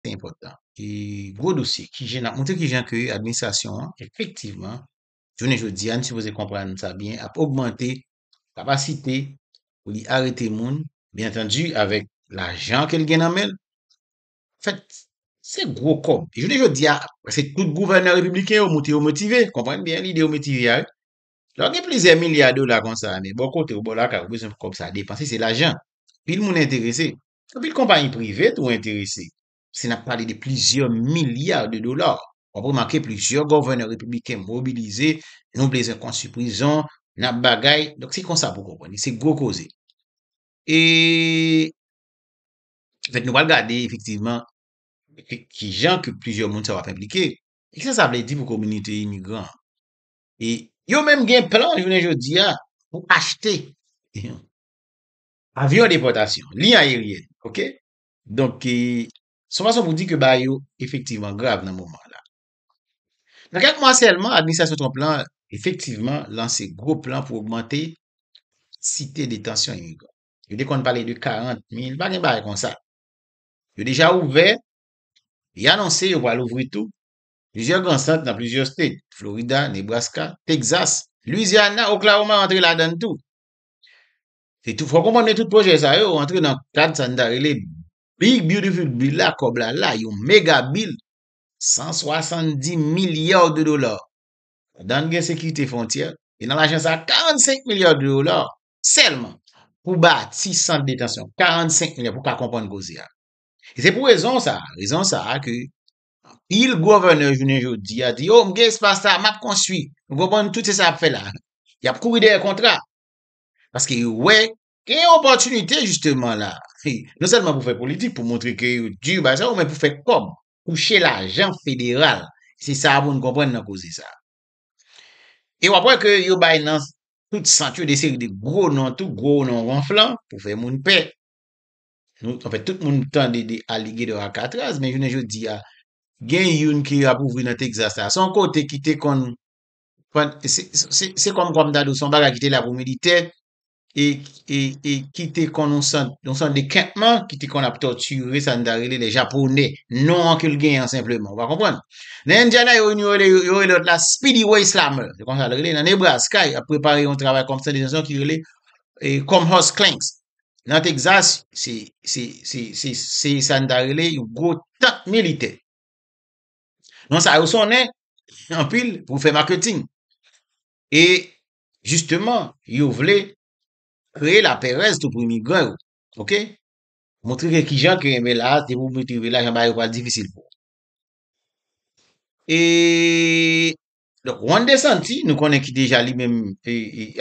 se enpòtan. E gwo dosye ki jen ap montre ki jan ke administrasyon an efektivman jounen jodi a n sipoze konprann sa byen ap ogmante kapasite pou li arete moun byen antandi avèk lajan ke l gen nan men l anfèt se gwo kòb e jounen jodi a prèske tout gouvènè repibliken yo moute yo motive konprann byen lide yo motive a wi lè w gen plizyè milya dola konsa men bò kote w bò lakay ou bezwen pou kòb sa depanse se lajan anpil moun enterese Anpil konpayi prive tou enterese. Se nap pale de plizyè milya de dola. Wap remake plizyè gòvènè repibliken mobilize, nou blezwen konstwi prizon, nap bagay, donk se konsa pou konprann li, se gwo koze. E anfèt nou pral gade efektivman kijan ke plizyè moun sa yo ap enplike. E kisa sa vle di pou kominite imigran an? E yo menm gen plan jounen jodi a pou achte. Avyon depòtasyon, liy ayeryèn, ok. Donk, son fason pou di ke bagay yo efektivman grav nan moman an la. Nan kèk mwa sèlman, administrasyon Trump la efektivman lanse gwo plan pou ogmante kantite detansyon imigran. Yo te konn pale de 40 mil, pa gen bagay konsa. Yo deja ouvè, e anonse yo pral ouvri tou, plizyè gran sant nan plizyè state, Florida, Nebraska, Texas, Louisiana, Oklahoma rantre ladann tou. Se tou fò konprann de tout pwojè sa yo antre nan kad sa n ta rele Big Beautiful Bill la, kòb la la, yon mega bill 170 milya de dola. Ladan l gen sekirite fwontyè, e nan lajan sa a 45 milya de dola sèlman pou bati sant detansyon, 45 milya pou w ka konprann koze a. E se pou rezon sa a, rezon sa a ke anpil gouvènè jounen jodi a di yo m gen espas la, m ap konstwi. Nou konprann tout se sa y ap fè la. Y ap kouri dèyè kontra. Paske yo wè gen yon opòtinite jisteman la. Non sèlman pou fè politik, pou montre ke yo di bagay sa yo, men pou fè kòb, touche lajan federal. Se sa pou nou konprann nan koze sa a. E w ap wè ke yo bay nan tout sant yo de seri de gwo non tou, gwo non wonflan pou fè moun pè. Anfèt, tout moun tande de Alligator Alcatraz, men jounen jodi a, gen youn ke yo ap ouvri nan Texas la. Se yon kote ki te konn Se kòm kòm ta dou son bagay ki te la pou militè e ki te kon yon sant de kèmpman ki te kon ap tòtire sa n ta rele le japonè. Non an ke l genyen an senpleman. Ou va konprann. Nan Indiana yo rele lòt la Speedy Way Slammer. Se konsa l rele. Nan Nebraska y ap prepare yon travay konsyantizasyon ki rele Comhurst Clanks. Nan Texas se sa n ta rele yon gwo tank militè. Non sa yo sonnen anpil pou fè maketing. E jisteman, yo vle kreye laperèz tou pou imigran yo. Ok? Montre ke kijan ke enben la, depi ou met rive la, jan bagay yo pral difisil pou ou. E Donk Juan de Santi, nou konnen ki deja li menm,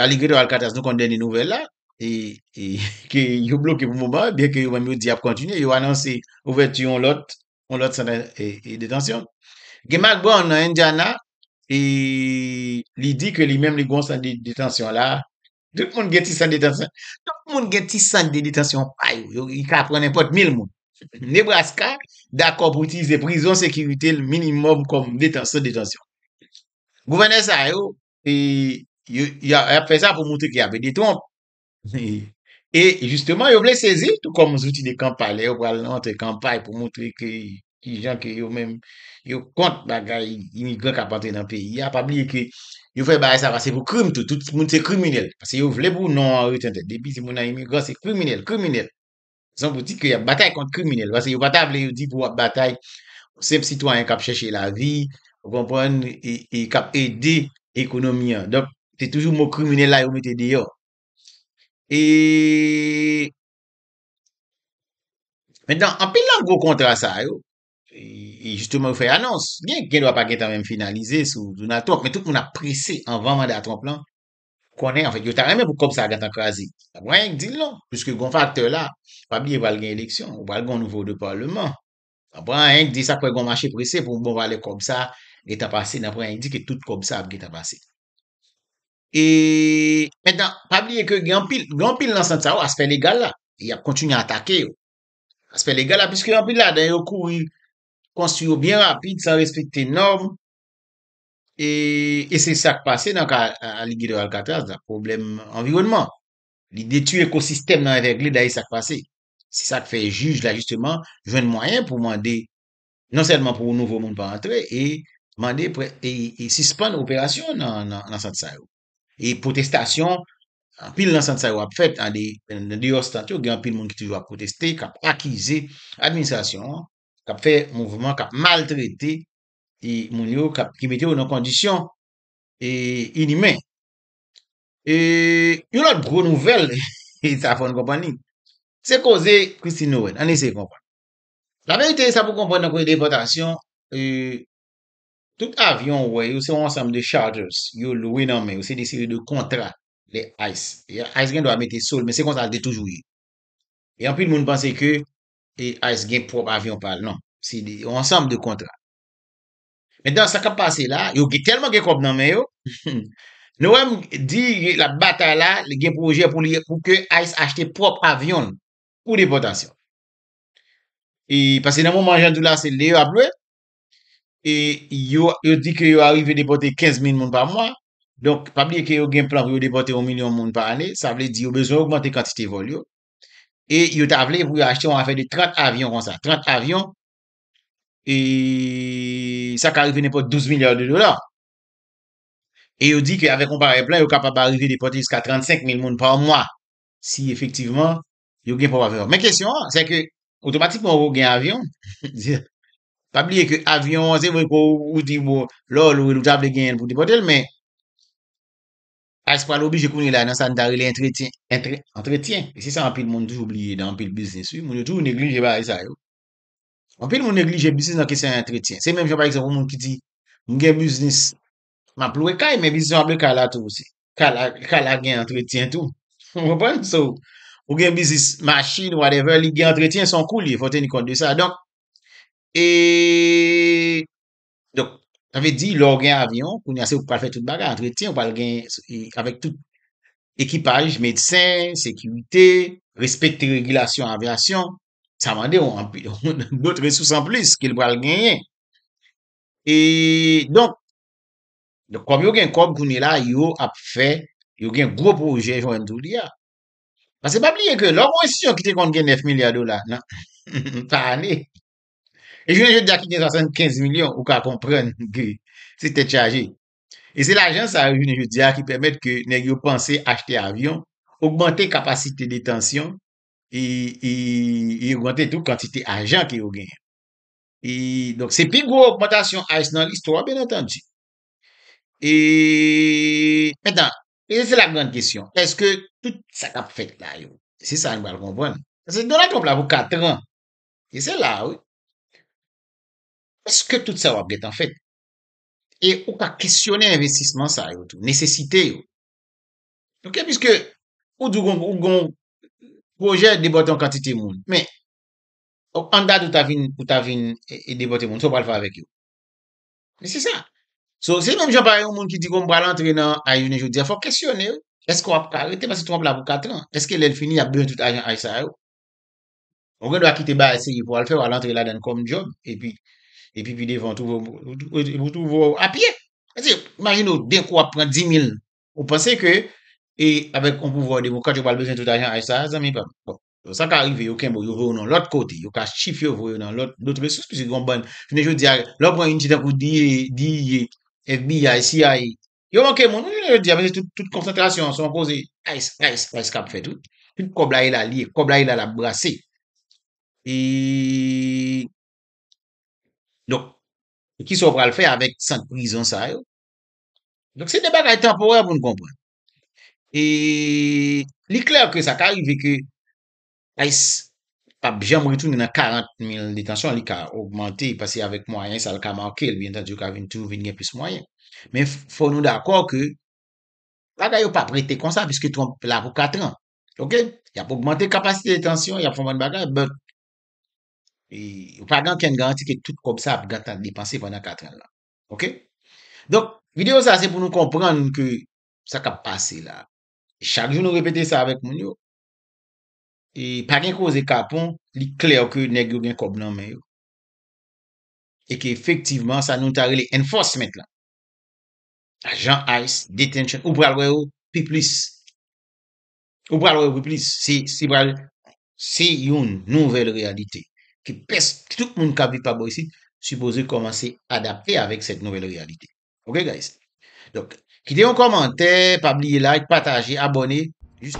Aligredo Alcatraz nou konnen dènye nouvèl la, ke yo bloke pou moman, byen ke yo menm yo di ap kontinye, yo anonse ouvèti yon lòt, yon lòt sant detansyon. Gen Mack Brown nan Indiana, li di ke li menm li gon sant detansyon la, Tout moun gen ti sant detansyon. Tout moun gen ti sant de detansyon pa yo. Yo ka pran nenpòt mil moun. Nebraska dakò pou itilize prizon sekirite l minimòm kòm detansyon detansyon. Gouvènè sa yo, e, yo, y ap fè sa pou montre ke y ap ede Trump. E, jisteman, yo vle sezi l tou kòm zouti de kanpay. Lè yo pral rantre kanpay pou montre ke ki jan ke yo menm yo kont bagay imigran kap antre nan peyi a, pa bliye ke yo fè bagay sa pase pou krim tou, tout moun se kriminèl, pase yo vle pou non an rete antre, depi se moun nan imigran se kriminèl, kriminèl, rezon pou di ke yap batay kont kriminèl, pase yo pa ta vle yo di pou wap batay yon senp sitwayen kap chèche lavi, ou konprann, e kap ede ekonomi an, donk se toujou mo kriminèl la yo mete deyò. E. Men dan, anpil nan gwo kontra sa yo, e jisteman yo fè anons, gen gen dwa pa gen tan menm finalize sou Donald Trump, men tout moun ap prese anvan manda Trump lan, konnen anfèt, yo ta renmen pou kòb sa a gentan kraze. Pa gen anyen k di l non, piske gon faktè la, pa bliye pral gen eleksyon, ou pral gon nouvo de palman, pa gen anyen k di sa k fè gon mache prese pou bon valè kòb sa a gentan pase, nan pran anyen k di ke tout kòb sa a ap gentan pase. E, mentan, pa bliye ke gen anpil, gen anpil nan sant sa yo, aspè legal la, y ap kontinye atake yo. Aspè legal la, piske anpil ladan yo kouri konstwi yo byen rapid, san respekte nòm, e, e se sa k pase nan ka Aligidò Alkatraz la, pwoblèm anviwònman. Li detwi ekosistèm nan Evègled la, e sa k pase. Se sa k fè jij la jisteman jwenn mwayen pou mande Non sèlman pou nouvo moun pa antre e mande e sispann operasyon nan sant sa yo. E pwotestasyon anpil nan sant sa yo ap fèt an deyò sant yo gen anpil moun ki toujou ap pwoteste, k ap akize administrasyon an, k ap fè mouvman, k ap maltrete e moun yo, k ap ki mete yo nan kondisyon e inimen. E yon lòt gwo nouvèl e sa fòn konprann li. Se koze Christine Nowen. Ann eseye konprann. La verite sa pou konprann nan koze depòtasyon tout avyon ou wè yo se yon ansanm de charters yo lwe nan men yo se de seri de kontra lè ice ice gen dwa mete sou l men se konsa l te toujou ye e anpil moun panse ke ice gen pwòp avyon pa l non se yon ansanm de kontra mentan sa k ap pase la yo gen tèlman gen kòb nan men yo nou wè m di l ap batay la li gen pwojè pou li pou ke ice achte pwòp avyon l pou depòtasyon e pase nan moman jan di la se lè yo ap lwe e yo yo di ke yo arive depote 15 mil moun pa mwa donk pa bliye ke yo gen plan pou yo depote yon milyon moun pa ane sa vle di yo bezwen ogmante kantite vòl yo e yo ta vle pou yo achte yon afè de 30 avyon konsa 30 avyon e sa ka rive nenpòt 12 milya de dola e yo di ke avèk yon parèy plan yo kapab arive depote jiska 35 mil moun pa mwa si efektivman yo gen pwòp avyon yo. Men kesyon an, se ke otomatikman ou gen avyon, pa bliye ke avyon an se vre ke ou di bon, lè w lwe l ou ta vle genyen l pou w te pote l men, ayis pral oblije kounye la nan sa n ta rele antretyen, antretyen, e se sa anpil moun toujou bliye nan anpil biznis wi, moun yo toujou neglije bagay sa yo. Anpil moun neglije biznis nan kesyon antretyen. Se menm jan pa egzanp yon moun ki di, m gen biznis Map lwe kay men bizisyon ap lwe kay la tou osi. Kay la, kay la gen antretyen tou. Ou konprann? So, ou gen bizis machin, whatever, li gen antretyen, son kou li ye, fò teni kont de sa. Donk, e, donk, sa vle di, lè ou gen avyon, kounye a se ou ki pral fè tout bagay, antretyen, ou pral gen, avèk tout ekipaj, medsen, sekirite, respekte regilasyon avyasyon, sa mande ou anpil, dot resous anplis ke li pral genyen. E donk, kòm yo gen kòb kounye la, yo ap fè, yo gen gwo pwojè jwenn tou li a. Paske pa bliye ke lò ou gen enstitisyon ki te konn gen 9 milya dola nan pa ane, e jounen jodi a ki gen 75 milyon, ou ka konprann ke se tèt chaje. E se lajan sa yo jounen jodi a ki pèmèt ke nèg yo panse achte avyon, ogmante kapasite detansyon, e ogmante tou kantite ajan ke yo genyen. E donk se pi gwo ogmantasyon ice nan listwa byen antandi. E mentan, e se la grand kesyon, eske tout sa kap fèt la yo, se sa nou pral konprann. Paske Donald Trump la pou 4 tran, e se la wi. Eske tout sa yo ap gentan fèt? E ou ka kesyone envestisman sa yo tou, nesesite yo. Ok, piske ou di ou gon pwojè debòte yon kantite moun, men Ok an dat ou ta vin ou ta vin depote moun sa ou pral fè avèk yo men se sa so se menm jan pa yon moun ki di konn pral antre nan ayy jounen jodi a fòk kesyone l eske wap ka rete paske tou wap la pou 4 tran eske lèl fini yap bezwen tout ajan ayy sa yo ou gen dwa kite bagay serye pou al fè wal antre ladann kòm djòb epi epi pi devan ou twouve w epi ou twouve w a pye paske imajine w denkou wap pran 10000 ou panse ke e avèk yon pouvwa demokrat yo pral bezwen tout ajan ayy sa zanmi pam bon Donk sa ka rive yo kenbe w, yo voye w nan lòt kote, yo ka chifye w voye w nan lòt lòt resous piske gen yon bann, jounen jodi a lè w pran yon ti tankou DEA, FBI, CIA, yo manke moun wi jounen jodi a paske tout konsantrasyon an se yon koze ice, ice, ice k ap fèt wi, tout kòb la e la li ye, kòb la e la l ap brase e donk kisa w pral fè avèk sant prizon sa yo, donk se de bagay tanporè pou nou konprann. e li klè ke sa ka rive ke ice pa p janm retounen nan 40 mil detansyon li ka ogmante paske avèk mwayen sa l ka manke l byenntande yo ka vin toujou vin gen plis mwayen men fò nou dakò ke bagay yo pa p rete konsa pwiske Trump la pou 4 an ok y ap ogmante kapasite detansyon y ap fè yon bann bagay but e pa gen okenn garanti ke tout kòb sa ap gentan depanse pandan 4 an nan. Ok? Donk, videyo sa se pou nou konprann ke sa kap pase la. Chak jou nou repete sa avèk moun yo. E pa gen koze kapon, li klè ke nèg yo gen kòb nan men yo. E ke efektivman sa nou ta rele enforcement la. Ajan ice, detention, ou pral wè yo pi plis. Ou pral wè wi plis, se pral, se yon nouvèl reyalite ke pès, tout moun kap viv pa bò isit sipoze kòmanse adapte avèk sèt nouvèl reyalite. Ok guys. Donk, kite yon kòmantè, pa bliye like, pataje, abòne, jis.